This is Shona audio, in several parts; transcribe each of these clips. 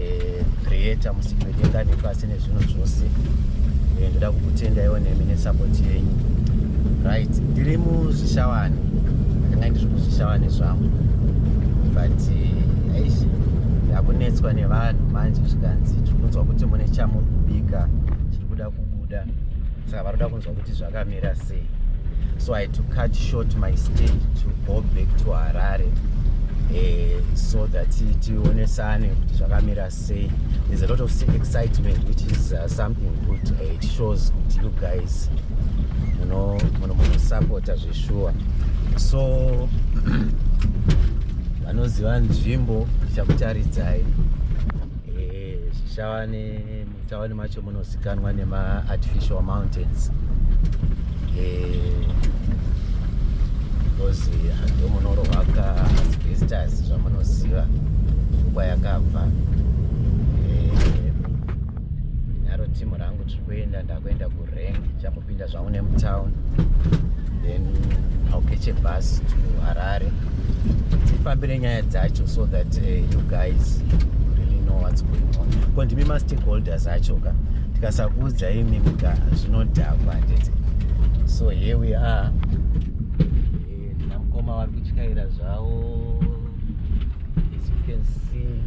eh, creator musiki wedenga nepasi nezvinhu zvose eh, ndoda kukutendaiwo nemi nesapoti yenyu right ndiri muzvishawani ndanga ndiri kuzvishawani zvangu but eh, aishi ndakunetswa nevanhu manje zvikanzi tiri kunzwa kuti mune chamuri kubika chiri kuda kubuda saka varoda kunzwa kuti zvakamira sei so i to cut short my stay to go back to harare eh, so that tionesane kuti zvakamira sei there's a lot of excitement which is uh, something good uh, it shows kuti you guys munosapota zveshuwa so vanoziva nzvimbo ndichakutaridzai eh, zvichava ne Mutauni macho munozikanwa nema artificial mountains because eh, hando munorohwa ka asbestos zvamunoziva nguva yakabva eh, naro timu rangu tiri kuenda ndakuenda kuri chakupinda zvangu nemutown then I'll catch a bus to Harare tifambire nyaya dzacho so that uh, you guys really know what's going on ko ndimi mastakeholders acho ka tikasakuudza imi ka zvinodhakwa nditi so here we are eh, namukoma vari kutyaira zvavo as you can see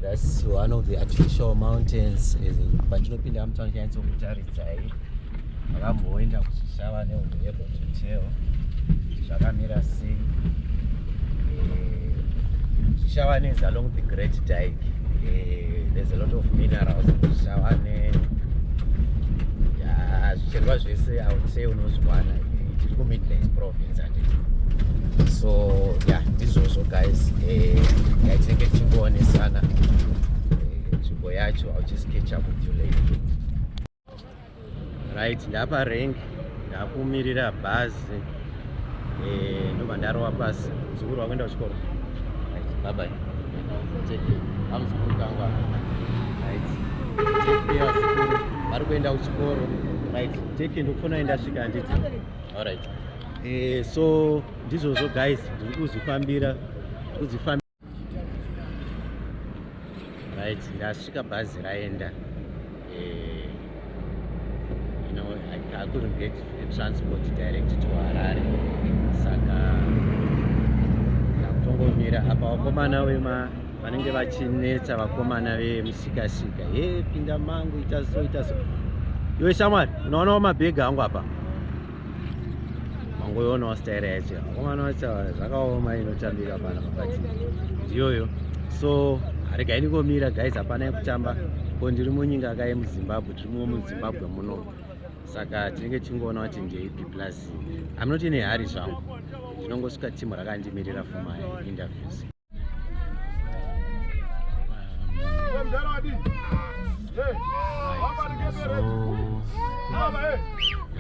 that's one of the artificial mountains eh, Ndamutsa nyatso kutaridza hii. Akamboenda kuchishava neunhu yebo tuteo. Zvakamira sei? Chishavane is along the Great Dyke. Eh, there's a lot of minerals in Chishavane. Yeah, zvicherwa zvese I would say unozviwana tiri kuMidlands province handiti. So yeah, ndizvozvo guys. Eh, yeah, tinenge tichikuonesana. yacho I'll just catch up with you later right ndapa rank ndakumirira bhazi eh, ndobva ndarowa pasi muzukuru wakuenda kuchikoro right bye bye take care amuzukuru kangwa right take care vazukuru vari kuenda kuchikoro right take care ndokufona endasvika handiti all right eh, so ndizvozvo guys ndiri kuzvifambira kuzvifambira right ndasvika bhazi raenda eh, you know I, I couldn't get a transport direct to Harare saka ndakutongomira apa vakomana vema vanenge vachinetsa vakomana vemusikasika he pinda mangu ita so ita so iwe shamwari unoonawo mabhegi angu apa wangoiona wasitaira yacho wakomana wacho zvakaoma inotambika pana pakati ndiyoyo so regai ndikomira guys hapana yekutamba ko ndiri munyika kaye muzimbabwe tiri muwo muzimbabwe muno saka tinenge tichingoona kuti ndeipi plus amnoti nehari zvangu ndinongosvika timu rakandimirira for my interviews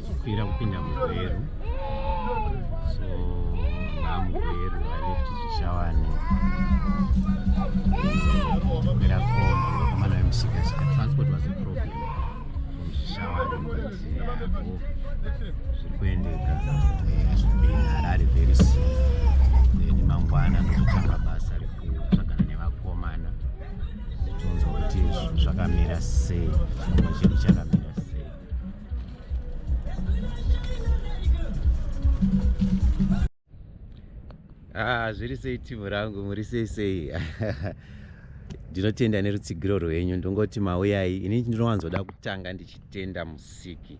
kukwira kupinda mugweru so namugweru aleft zvishavani kukwira komba akamana vemusika saka transport was a problem from zvishavani zviri kuendeka harare very soon then mangwana ndokutanga basa rekutsvagana nevakomana tonzwa kuti zvakamira sei chimwe chedu chakamira ah, zviri sei timu rangu muri sei sei ndinotenda nerutsigiro rwenyu ndongoti mauyai ini ndinowanzoda kutanga ndichitenda musiki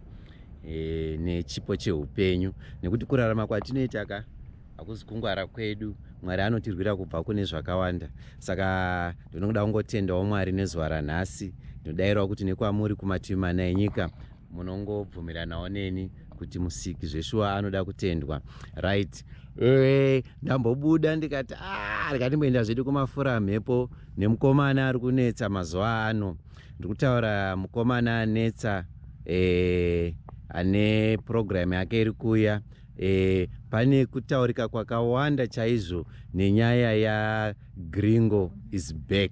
e, nechipo cheupenyu nekuti kurarama kwatinoita ka hakuzi kungwara kwedu mwari anotirwira kubva kune zvakawanda saka ndinoda kungotendawo mwari nezuva ranhasi ndinodairawo kuti nekwamuri kumativi mana enyika munongobvumiranawo neni kuti musiki zveshuwa anoda kutendwa right eh, ndambobuda ndikati ah, ndikatimboenda zvedu kumafura mhepo nemukomana ari kunetsa mazuva ano ndiri kutaura mukomana anetsa eh, ane purogiramu yake iri kuya Eh, pane kutaurika kwakawanda chaizvo nenyaya ya gringo is back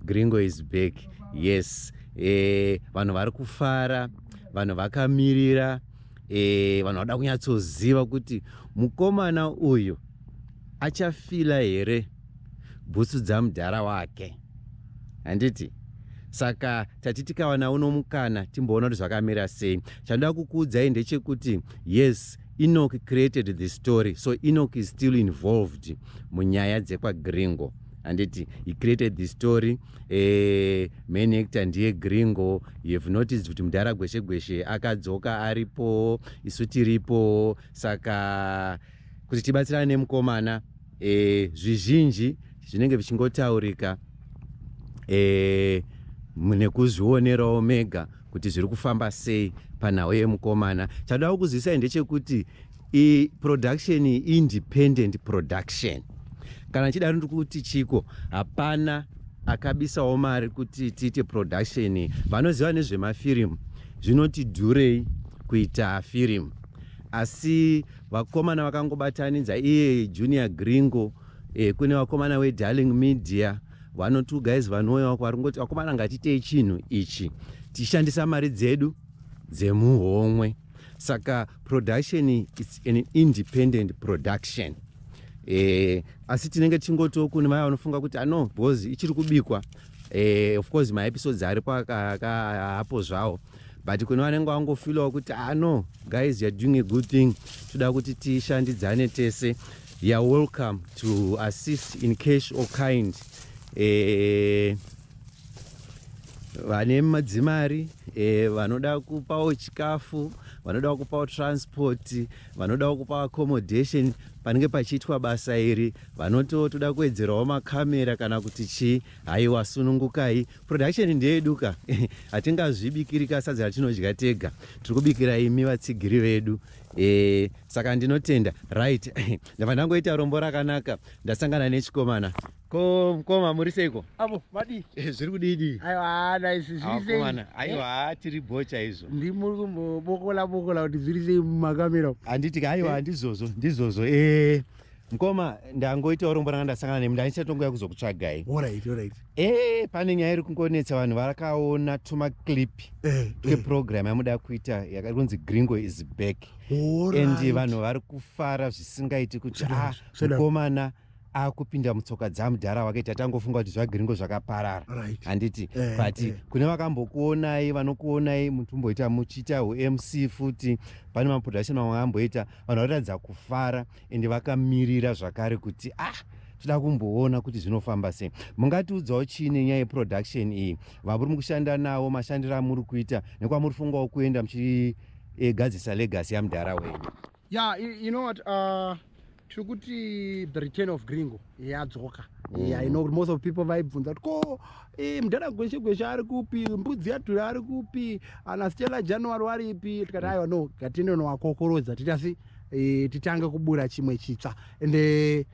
gringo is back yes eh, vanhu vari kufara vanhu vakamirira eh, vanhu vada kunyatsoziva kuti mukomana uyu achafila here bhutsu dzamudhara wake handiti saka tati tikawana uno mukana timboona kuti zvakamira sei chandoda kukuudzai ndechekuti yes enoch created the story so enoch is still involved munyaya dzekwagringo handiti he created the story eh, main actor ndiye gringo you have noticed kuti mudhara gweshe gweshe akadzoka aripo isu tiripo saka kuti tibatsirane nemukomana e, zvizhinji zvinenge zvichingotaurika e, nekuzvionerawo mega kuti zviri kufamba sei panhau yemukomana chadoda kukuzivisai ndechekuti i production independent production kana chidaro ndiri kuti chiko hapana akabisawo mari kuti tiite production vanoziva nezvemafirimu zvinoti dhurei kuita firimu asi vakomana vakangobatanidza iye junior gringo eh, kune vakomana wedarling media vanoti ugaizi vanouya wako vari kungoti vakomana ngatitei chinhu ichi tichishandisa mari dzedu dzemuhomwe saka production is an independent production eh, asi tinenge tichingotiwo kune vaya vanofunga kuti ano ah, because ichiri kubikwa eh, of course maepisodes aripo apo zvawo but kune vanenge vangofilawo kuti ah no guys you're doing a good thing toda kuti tishandidzane tese you're welcome to assist in cash or kind eh, vane madzimari eh, vanoda kupawo chikafu vanoda kupawo transport vanoda kupawo accommodation panenge pachiitwa basa iri vanotiwo toda kuwedzerawo makamera kana kuti chii haiwa sunungukai production ndeyeduka hatingazvibikirika sadza ratinodya tega tiri kubikira imi vatsigiri vedu e, saka ndinotenda right ndava ndangoita rombo rakanaka ndasangana nechikomana ko mkoma muri seiko avo vadii eh, zviri kudidii aiwa naisi zviisekomana aiwa eh? tiri bho chaizvo ndi muri kumbobokola bokola kuti zviri sei mumakamera handiti ka aiwa ndizvozvo ndizvozvo ee eh. Mkoma ndangoita urombo ranga ndasangana nemi ndanichatongoya kuzokutsvagai. Alright, alright. Eh, pane nyaya iri kungonetsa vanhu varakaona tuma clip eh, twe eh. program yamuda kuita yakanzi Gringo is back. Alright. And vanhu vari kufara zvisingaiti kuti ah mkomana akupinda mutsoka dzamudhara wake tatangofunga kuti zvagringo zvakaparara handiti right. eh, but eh. kune vakambokuonai vanokuonai mutumboita muchiita umc futi pane maproduction mamwe amboita vanhu vatoratidza kufara ende vakamirira zvakare kuti ah tida kumboona kuti zvinofamba sei mungatiudzawo chii nenyaya yeproduction iyi vamuri mukushanda nawo mashandiro amuri kuita nekwamuri fungawo kuenda muchigadzisa legasi yamudhara wenyu ya yeah, you know what uh, tiri kuti the return of gringo yadzoka mm. yeah, you know, most of people vaibvunza kuti ko eh, mudhara gweshe gweshe ari kupi mbudzi yadhura ari kupi ana stela january waripi tikati aiwa no gatinonowakokorodza titasi e, titange kubura chimwe chitsva and eh,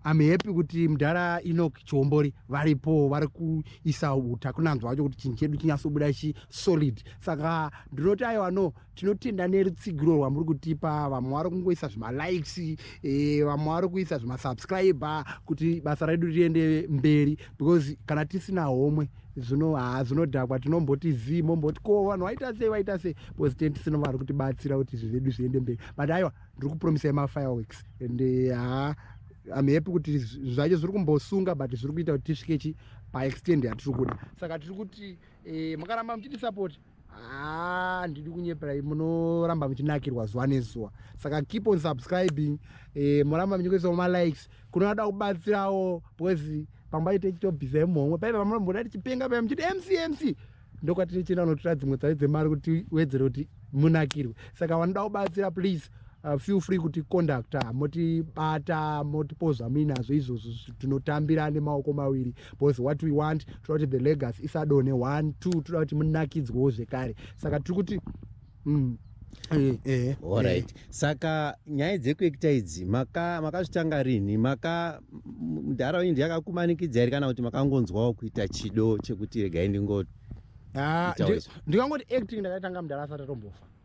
am happy kuti mudhara enok chiombori varipo vari kuisa uta kunanzwa wacho kuti chinhu chedu chinyasobuda chi solid saka ndinoti aiwa no tinotenda nerutsigiro rwamuri kutipa vamwe vari kungoisa zvemalikes eh, vamwe vari kuisa zvemasubscriber kuti basa redu riende mberi because kana tisina homwe zvino haa zvinodhakwa tinomboti zii momboti ko vanhu vaita sei vaita sei because tine tisina vari kutibatsira kuti izvi zvedu zviende mberi but aiwa ndiri kupromisai mafireworks and eh, haa am happy kuti zvacho zviri kumbosunga but zviri kuita kuti tisvike chi paextend yatiri kuda saka tiri kuti eh, makaramba muchitisupport haa ah, ndidi kunyeperai munoramba muchinakirwa zuva nezuva saka keep on subscribing eh, moramba muchikuisawo malikes kunoda kubatsirawo because pamba ite chitobhisa imhomwe paive vamunomboda tichipenga paya muchiti mcmc ndokwatiri chinonotora dzimwe tsari dzemari kuti wedzere kuti munakirwe saka vanoda kubatsira please Uh, feel free kuti conductor motibata motipoza minazvo izvozvo tinotambira nemaoko maviri because what we want toda kuti the legas isadone one two toda kuti munakidzwewo zvekare saka tiri kuti mm, Eh, eh, Alright. Eh. Saka nyaya dzekuekita idzi maka makazvitanga rini maka mudhara wenyu ndiye akakumanikidza here kana kuti makangonzwawo kuita chido chekuti regai ndingo ah, ndikangoti acting ndakatanga mudhara asati atombofa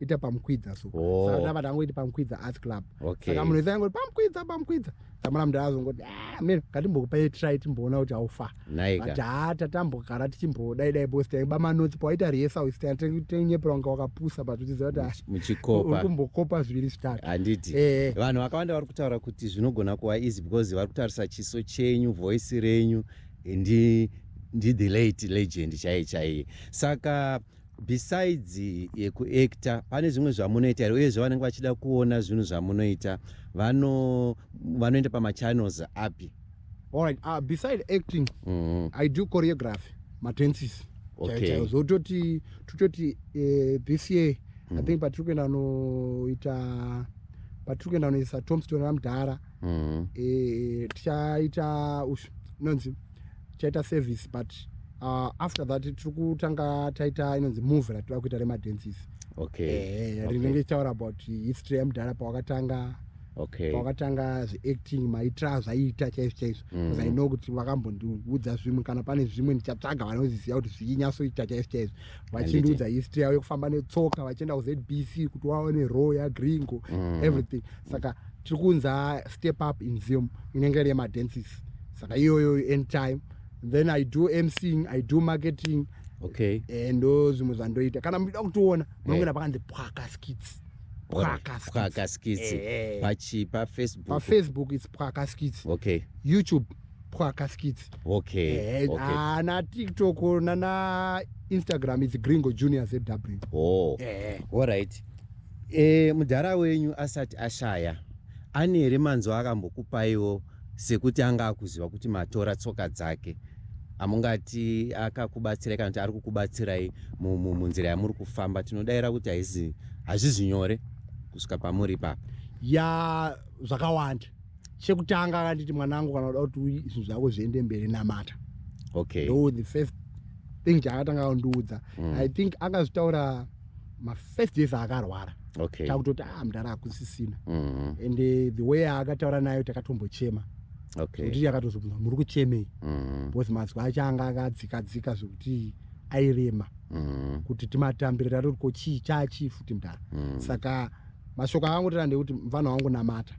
ita pamukwidza so oh. saka ndava ndangoti pamukwidza art club okay. saka munhu wese angoti pamukwidza pamukwidza tamara mndu azongoti ah, miro ngatimbokupai try timboona kuti aufa but haa tatambogara tichimbodai dai bos taiba manotsi pawaita rehesa usita tenyepera wanga wakapusa but uchiziva kuti ah, muchikopa kumbokopa zviviri zvitatu handiti eh. vanhu vakawanda vari kutaura kuti zvinogona kuva easy because vari kutarisa chiso chenyu voice renyu ndi ndi the late legend chaiye chaiye saka besides yekuactor pane zvimwe zvamunoita here uyezve vanenge vachida kuona zvinhu zvamunoita vanoenda pamachannels api allright uh, ah, beside acting mm -hmm. i do choreography matensis okay. zvototi tototi uh, this year mm -hmm. i mhm. think patiri kuenda noita patiri kuenda noisa tomston ramdhara mm. e, tichaita inonzi tichaita service but uh, after that tiri kutanga taita inonzi move ratida kuita remadensis okay. e, okay. rinenge tichitaura about history yemudhara pawakatanga okay. pawakatanga zveacting maitra zvaiita chaizvo chaizvo mm. i know kuti vakambondiudza zvimwe kana pane zvimwe ndichatsvaga vanoziziva kuti zvinyatsoita chaizvo chaizvo vachindiudza history yavo yekufamba netsoka vachienda kuzbc kuti waone row yagringo mm. everything saka tiri kunza step up in zium inenge iri yemadances saka iyoyo end time then i do mcing i do marketing okay eh, ndo zvimwe zvandoita kana muchida kutiona munongena eh. pakanzi pwaka skits pwaka skits eh, pachi pafacebook pafacebook its pwaka skits okay youtube pwaka skits okay, eh, okay. Ah, na tiktok nana instagram is gringo junior zw oh. eh. all right eh, mudhara wenyu asati ashaya ane here manzwa akambokupaiwo sekuti anga akuziva kuti matora tsoka dzake amungati akakubatsirai kana kuti ari kukubatsirai munzira yamuri kufamba tinodaira kuti haizi hazvizi nyore kusvika pamuri ipapo ya zvakawanda chekutanga akanditi mwanangu kana uda kuti zvinhu zvako zviende mberi namata okay ndo the first thing chaakatanga aundiudza mm. i think akazvitaura mafirst days aakarwara okay takutoti ah mdara akusisina mm -hmm. and eh, the way aakataura nayo takatombochema okay kuti yakatozobvunza muri kuchemei mm -hmm. because mazwi acho anga akadzika dzika zvekuti airema mm -hmm. kuti timatambire tatoiko chii chachii futi mdara mm -hmm. saka mashoko akangotaura ndekuti mfana wangu namata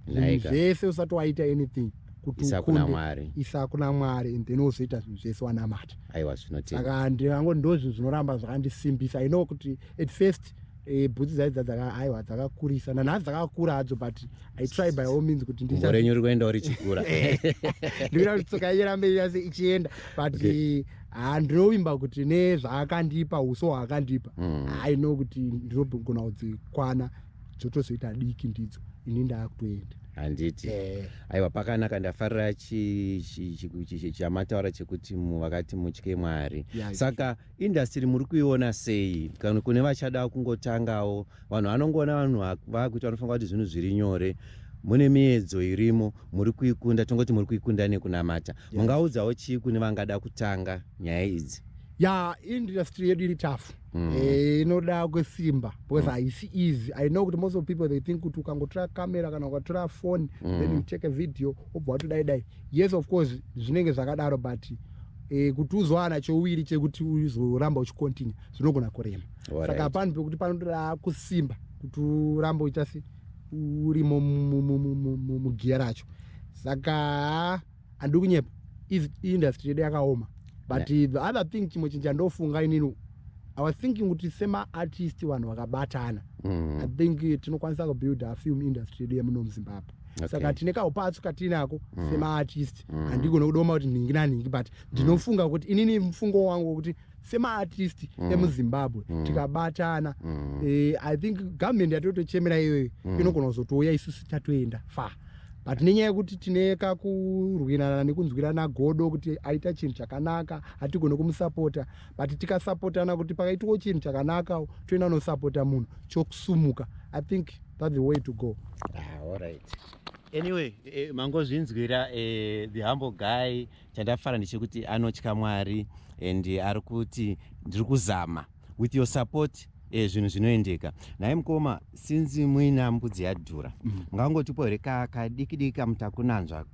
like zvese usati waita anything kuti isakuna mwari isakuna mwari and then uzoita zvinhu zvese wanamata aiwa zvinotenda saka ndivango ndozvinhu zvinoramba zvakandisimbisa i know kuti at first Eh, bhutsi dzaidza dzaka aiwa dzakakurisa nanhasi dzakakura hadzo but i try by all means kuti ndirenyu uri kuendawo richikura eh, ndikuda kuti tsoka irambe yase ichienda but okay. Eh, haa ndinovimba kuti nezvaakandipa uso hwaakandipa mm. aino mm. kuti ndinogona kudzikwana dzotozoita diki ndidzo ini ndaakutoenda handiti eh. aiwa pakanaka ndafarira chamataura chekuti vakati mutye mwari saka indastiri muri kuiona sei kana kune vachada kungotangawo vanhu vanongoona vanhu vakuita vanofunga kuti zvinhu zviri nyore mune miedzo irimo muri kuikunda tongoti muri kuikunda nekunamata yes. mungaudzawo chii kune vangada kutanga nyaya idzi ya industry yedu iri tafu mm. eh, inoda kwesimba because mm. haisi mm. easy i know kuti most of people they think kuti ukangotora camera kana ukatora phone mm. then you take a video obva watodai dai yes of course zvinenge zvakadaro but eh, kuti uzowana chowiri chekuti uzoramba uchicontinue zvinogona kurema saka right. pano pekuti panotoda kusimba kuti uramba uchiasi uri mugiya racho saka handiri kunyepa industry yedu yakaoma but yeah. the other thing chimwe chinhu chandofunga inini i was thinking kuti semaartist vanhu vakabatana mm. i think eh, tinokwanisa kubuilda afilm industry yedu yemuno muzimbabwe okay. saka tine kaupatsu katiinako mm. semaartist mm. handigona mm. kudoma kuti nhingi nanhingi but mm. ndinofunga mm. kuti inini mfungo wangu wokuti semaartist mm. emuzimbabwe mm. tikabatana mm. eh, i think government yatotochemera iyoyo mm. inogona kuzotouya isusu tatoenda far but nenyaya yekuti tine kakurwirana nekunzwirana godo kuti aita chinhu chakanaka hatigone kumusapota but tikasapotana kuti pakaitiwo chinhu chakanaka toenda nosapota munhu chokusumuka i think that the way to go ah, all right anyway eh, mangozvinzwira eh, the humble guy chandafara ndechekuti anotya mwari and ari kuti ndiri kuzama with your support e, zvinhu zvinoendeka nhai mukoma sinzi muina mbudzi yadhura mm. ngangotipo here kadiki diki kamutakunanzva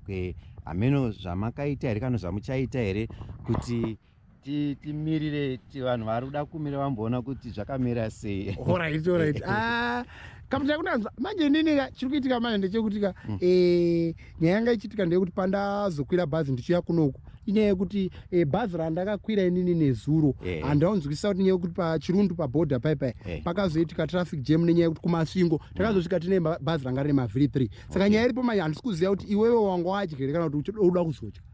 hameno zvamakaita here kana zvamuchaita here kuti mm. timirire vanhu vari kuda kumira vamboona kuti zvakamira sei orit orit ah, kamutai kunanzwa manje inini ka chiri kuitika manje ndechekuti ka mm. eh, nyaya yanga ichiitika ndeyekuti pandazokwira bhazi ndichiuya kunoku inyaya yekuti eh, bhazi randakakwira inini nezuro eh. handaunzwisisa kuti nyaya yekuti pachirundu paboda paipai pakazoitika traffic jam nenyaya yekuti kumasvingo mm. takazosvika tine bhazi ranga rine mavhiri three saka nyaya iripo manje handisi kuziva kuti iwewe wanga wadya here kana kuti uda kuzodya